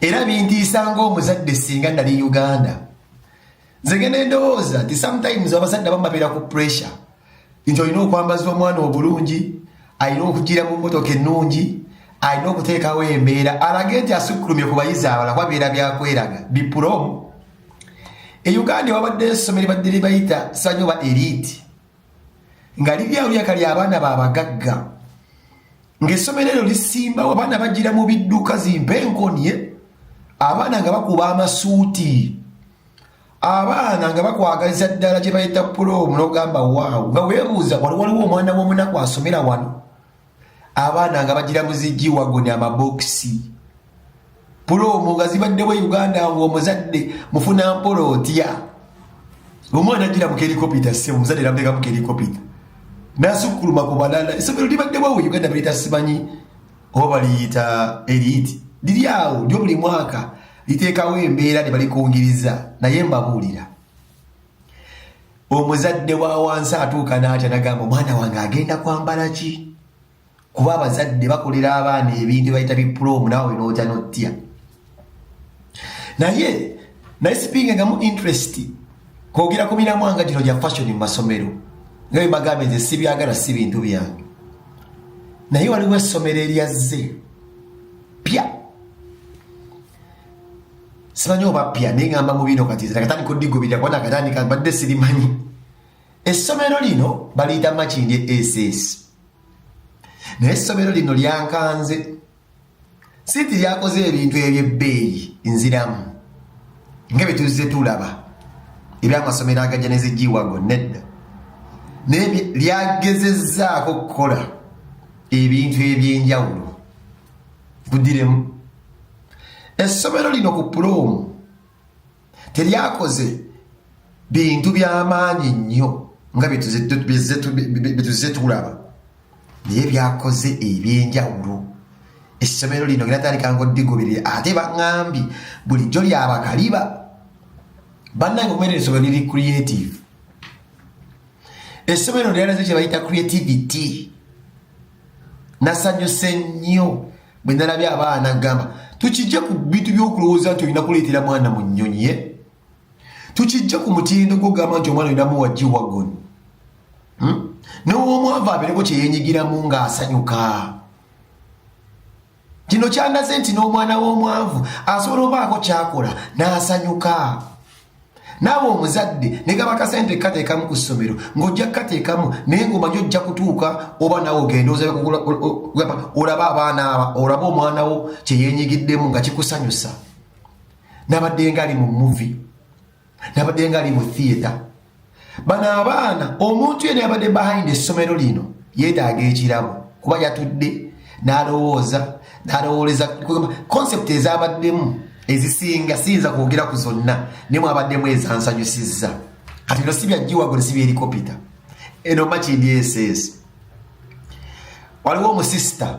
era bintiisa ngaomuzadde singa nali uganda nze genda endowooza nti sometimes abazadde bamabera ku pressure nti olina okwambaza omwana obulungi alina okugira mu motoka ennungi alina okuteekawo embeera alage nti asukkulumye ku bayizi abala kuba bibeera byakweraga bipulomu e uganda wabadde esomero badde libayita sanyoba eriti nga liri awo lyaka lya abaana babagagga ng'essomero eryo lisimbawo abaana bagira mu bidduka zimpa enkonye abaana nga bakuba amasuuti abaana nga bakwagaliza ddala gye bayita pulomu n'ogamba waawo nga weebuuza wali waliwo omwana w'omunaku asomera wano abaana nga bagira muzigi wagoni amabokisi pulomu nga zibaddewo e uganda nga omuzadde mufuna mpola otya omwana agira mukelikopita se omuzadde namuteeka mukelikopita nasukkuluma ku balala esomero libaddewo e uganda baliyita simanyi oba baliyita eriyiti liri awo lyo buli mwaka liteekawo embeera ne balikungiriza naye mbabuulira omuzadde wa wansi atuuka n'atya nagamba omwana wange agenda kwambala ki kuba abazadde bakolera abaana ebintu bayita bipuloomu naawe n'otya n'otya naye naye sipinga nga mu interest kwogera ku miramwanga gino gya fashion mu masomero nga bemagamba nze sibyagala si bintu byange naye waliwo essomero eryazze pya simanyi oba pya naye ngamba mu bino kati nakatandika odigubirira kuba nakatandika mbadde sirimanyi essomero lino baliyita makindi ss naye essomero lino lyankanze sinti lyakoze ebintu ebyebbeeyi nziramu nga byetuzze tulaba ebyamasomero agajja nezijiwago nedda naye lyagezezzaako okukola ebintu ebyenjawulo budiremu essomero lino ku puloomu teryakoze bintu byamaanyi nnyo nga byetuzze tulaba naye byakoze ebyenjawulo essomero lino geratandikanga odigoberere ate baŋambi bulijjo lyabakaliba bannange okumera essomero liri creative Essomero lino lyalaze kye bayita creativity. Nasanyuse nnyo bwe nalabye abaana gamba tukijje ku bintu by'okulowooza nti olina kuleetera mwana mu nnyonyi ye tukijje ku mutindo gw'ogamba nti omwana olina muwa giwagon hmm? n'ow'omwavu abeereko kye yeenyigiramu ng'asanyuka kino kyandaze nti n'omwana w'omwavu asobola obaako kyakola n'asanyuka naawe omuzadde negaba kasente kateekamu ku ssomero ng'ojja kukateekamu naye ng'omanyi ojja kutuuka oba naawe ogenda olaba abaana aba olaba omwana wo kye yenyigiddemu nga kikusanyusa nabadde ngaali mu muvi nabadde nga ali mu theatre bano abaana omuntu yena yabadde behind essomero lino yetaaga ekirabo kuba yatudde nalowooza nalowooleza concept ezabaddemu ezisinga siyinza kwogera ku zonna naye mwabaddemu ezansanyusizza kati bino si byajjiwagole si byelikopita eno makindi eseesi waliwo omusisita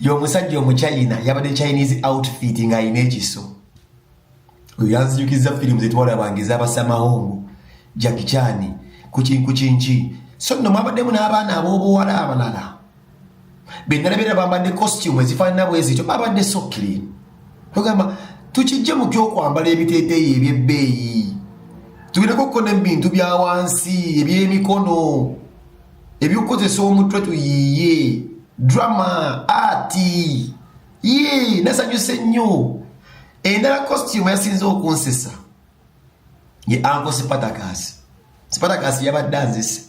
y'omusajja omuchina yabadde chinese outfit nga alina ekiso oyo yanzijukizza firimu zetwalabanga ezabasamahongo jakichani kukinkukinki so nno mwabaddemu n'abaana ab'obuwala abalala benalabera bambadde costume ezifaanana bwezityo babadde sokkiri togamba tukijje mu kyokwambala ebiteeteeyi ebyebbeeyi tugendeko kuko nebintu bya wansi ebyemikono eby'okukozesa omutwe tuyiiye drama ati yii nasanyuse nnyo endala costume yasinze okunsesa ye anko sipatakaasi sipatakaasi yabadde anzise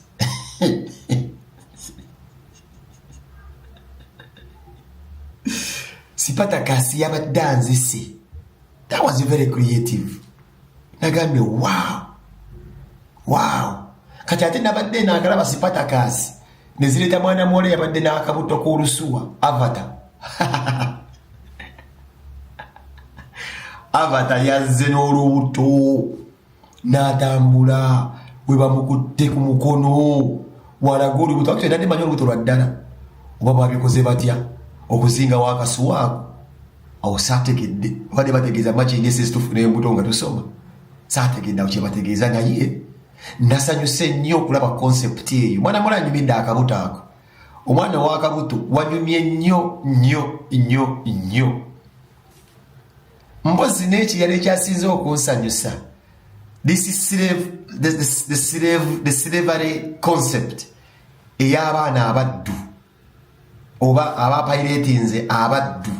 sipatakaasi yabadde anzise that was very creative nagambye waawo waawo kati ate nabadde enagalaba sipatakaasi nezireeta mwana muwala yabadde n'akabuto k'olusuwa avata avata yazze n'olubuto n'atambula we bamukutte ku mukono walaga olubuto akito era ndimanyi olubuto lwa ddala oba babikoze batya okuzingawo akasuwa ako awo saategedde obadde bategeeza makinesesitufu n'embuto nga tusoma saategedde awo kyebategeeza naye nasanyuse nnyo okulaba konsepti eyo mwana mula anyumidde akabuto ako omwana wakabuto wanyumye nnyo nnyo nnyo nnyo mbozi n'ekirala ekyasinze okunsanyusa the slavery concept ey'abaana abaddu oba abapayireetinze abaddu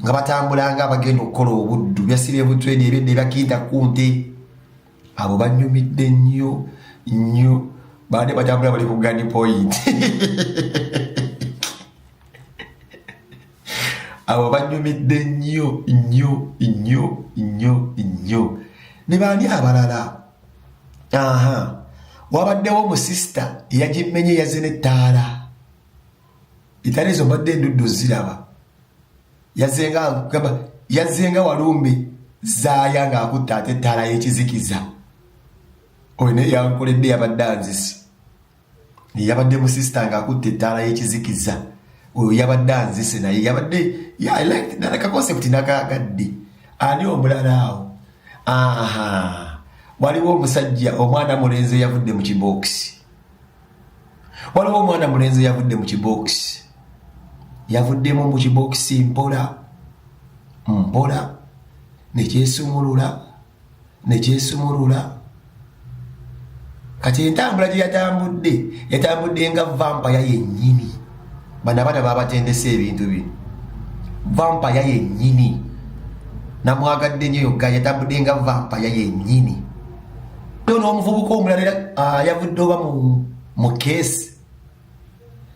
nga batambulanga abagenda okukola obuddu byasiba ebutwedi ebyedda ebyakinta ku nte abo banyumidde nnyo nnyo baade batambula bali ku gani point abo banyumidde nnyo nnyo nnyo nnyo nnyo ne baani abalala aha wabaddewo omusisita yagimmenye yazze n'ettaala etali ezo mbadde endudde oziraba yazenga gamba yazenga walumbe zaaya ng'akutte ate ettaala y'ekizikiza oyo naye yankoledde yabadde anzisi yabadde musisita nga akutte ettaala y'ekizikiza oyo yabadde anzise naye yabadde nana kakonseputi nakagadde ani omulala awo aha waliwo omusajja omwana mulenzi eyavudde mu kibookisi waliwo omwana mulenzi eyavudde mu kibookisi yavuddemu mu kibookisi mpola mpola nekyesumulula ne gyesumulula kati entambula gye yatambudde yatambudde nga vampaya yennyini bano abaana babatendesa ebintu bino vampaya yennyini namwagadde nyo yoga yatambudde nga vampaya yennyini yo n'omuvubuka omulala era ah, yavudde oba mu keesi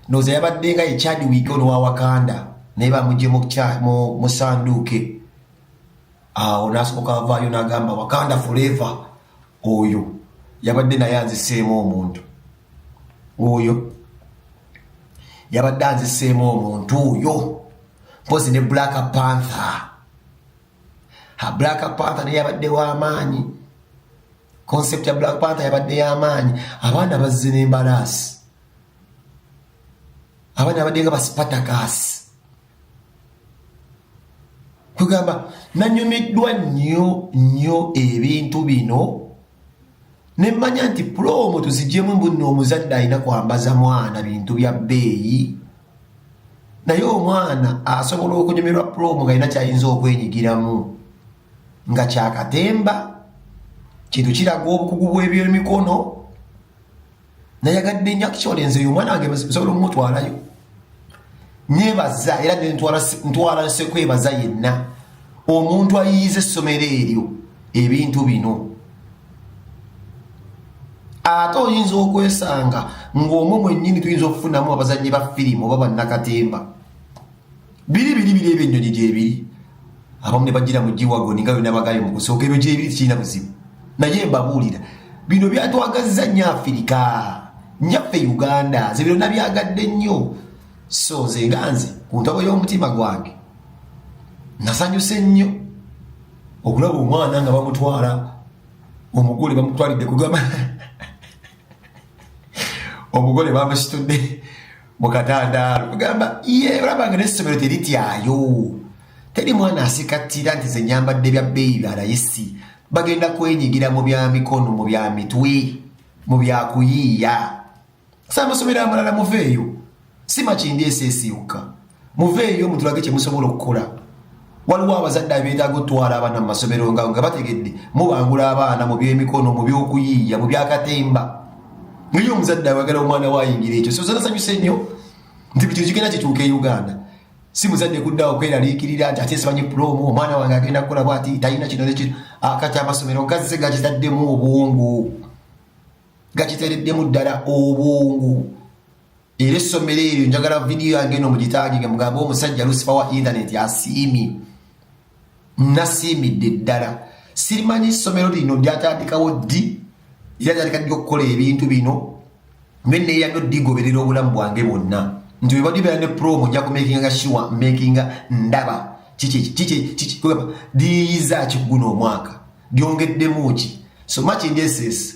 noza yabadde nga ye chad wiiki ono wa wakanda naye bamugye mu sanduuke awo nasooka avaayo nagamba wakanda forever oyo yabadde naye anziseemu omuntu oyo yabadde anziseemu omuntu oyo mpozi ne black panther ha black panther naye yabadde wamaanyi concept ya black panther yabadde yamaanyi abaana bazze nembalaasi abaana yabadde nga basipatakaasi kugamba nanyumiddwa nnyo nnyo ebintu bino nemmanya nti pulomu tuzijemu mbunna omuzadde alina kwambaza mwana bintu bya bbeeyi naye omwana asobola okunyumirwa pulomu nga alina kyayinza okwenyigiramu nga kyakatemba kintu kiraga obukugu bw'ebyemikono nayagadde nyo actually nze oyo omwana wange nsobola omumutwalayo nebaza era ntwala nsekwebaza yenna omuntu ayiyiza essomero eryo ebintu bino ate oyinza okwesanga ng'omwo mwennyini tuyinza okufunamu abazannyi ba firimu oba bannakatemba biri biri biri ebyo ennyonyi gyebiri abamu ne bajjira mu giwago ninga byona bagaye mu kusooka ebyo gyebiri tekirina buzibu naye mbabuulira bino byatwagazza nnyo afirika nyaffe uganda nze bino nabyagadde nnyo so nze nga nze ku ntabo y'omutima gwange nasanyuse nnyo okulaba omwana nga bamutwala omugole bamutwalidde kugamba omugole bamusitudde mu katandaalo kugamba ye olaba nga n'essomero terityayo teri mwana asikattira nti ze nyambadde bya bbeeyi bya layisi bagenda kwenyigira mu bya mikono mu bya mitwe mu bya kuyiiya samusomero amalala muveeyo si makindi eseesi yokka muveeyo mutulage kye musobola okukola waliwo abazadde abeetaaga otwala abaana mu masomero nga nga bategedde mubangula abaana mu byemikono mu byokuyiiya mu byakatemba naye omuzadde awagala omwana wayingira ekyo sozanasanyuse nnyo nti buli kino kigenda kituuka e uganda si muzadde kuddawo kweraliikirira nti ate simanyi pulomu omwana wange agenda kukola bwati talina kino nekino ah, kati amasomero gazze gakitaddemu obwongo gakitereddemu ddala obwongo era essomero eryo njagala vidiyo yange eno mugitagige mugambe omusajja lusifa wa inthaneti asiimye nasiimidde ddala sirimanyi essomero lino lyatandikawo ddi era lyatandika ddi okukola ebintu bino naye neeyamyo ddigoberera obulamu bwange bwonna nti webadde beera ne promo nja kumakinga nga shiwa makinga ndaba liyiyiza kiguno omwaka lyongeddemu ki so much indeses